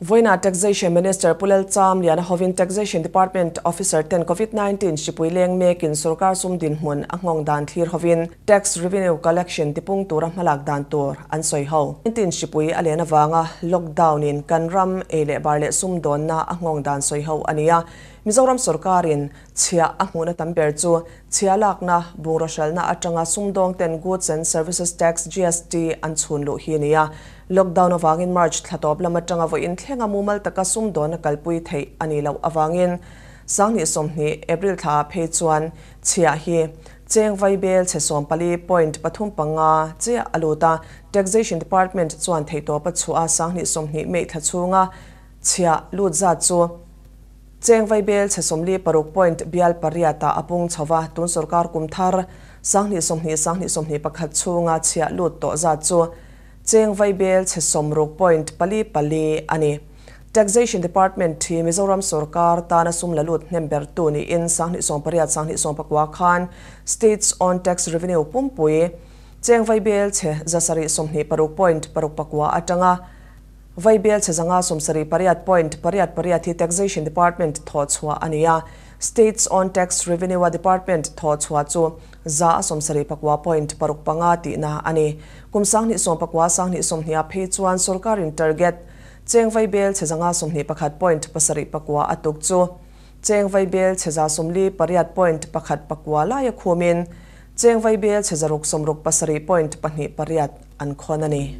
Vawiinah Taxation Minister Pu Lel Cham Liana hovin Taxation Department Officer ten Covid nineteen hripui leng mekin sorkar sum dinhmun a nghawng dan thlir hovin Tax Revenue Collection tipung tura hmalak dan tur an sawi ho. Nineteen hripui a len avanga lockdown in kan ram ei leh bar leh sum dawnna a nghawng dan sawi ho a nia. Mizoram sorkarin Chhia a hmuhna tam ber chu chhia lakna bungraw hralhna atanga sumdawng ten, Goods and Services Tax, GST, an chhun luh hi a ni a. Lockdown avangin March thla tawp lam atanga vawiin thlenga mumal taka sumdawna kalpui theih a nih loh avangin Sanghnih sawmhnih, April thla ah phei chuan chhia hi cheng vai bel chhe sawm pali, point pathum panga, chiah a lut a. Taxation Department chuan theihtawp a chhuah a, Sanghnih sawmhnih May thla chhunga chhia lut zat chu. Cheng Vaibel chhe sawmli paruk point bial pariat ah a pung chho va, tun sorkar kum thar sanghnih sawmhnih sanghnih sawmhnih pakhat chhung a chhiah lut tawh zat chu Cheng Vaibel chhe sawm ruk point pali pali a ni. Taxation Department thi Mizoram sorkar tan a sum la lut hnem ber tu ni in sanghnih sawm pariat sanghnih sawm pakua khan State's own tax revenue pumpui Cheng Vaibel chhe zasarih sawmhnih paruk point paruk pakua atanga Vai Bialchhe zanga sawmsarih pariat point pariat pariat hi Taxation Department thawh chhuah a ni a. State's Own Tax Revenue a Department thawh chhuah chu za a sawmsarih pakua point paruk panga tihna a ni. Kum sanghnih sawm pakua sanghnih sawmhniha phei chuan sorkarin target Cheng Vai Bialchhe zanga sawmhnih pakhat point pasarih pakua a tuk chu Cheng Vai Bialchhe za sawmli pariat point pakhat pakua lai a khumin Cheng Vai Bialchhe zaruk sawmruk pasarih point pahnih pariat an khawn a ni.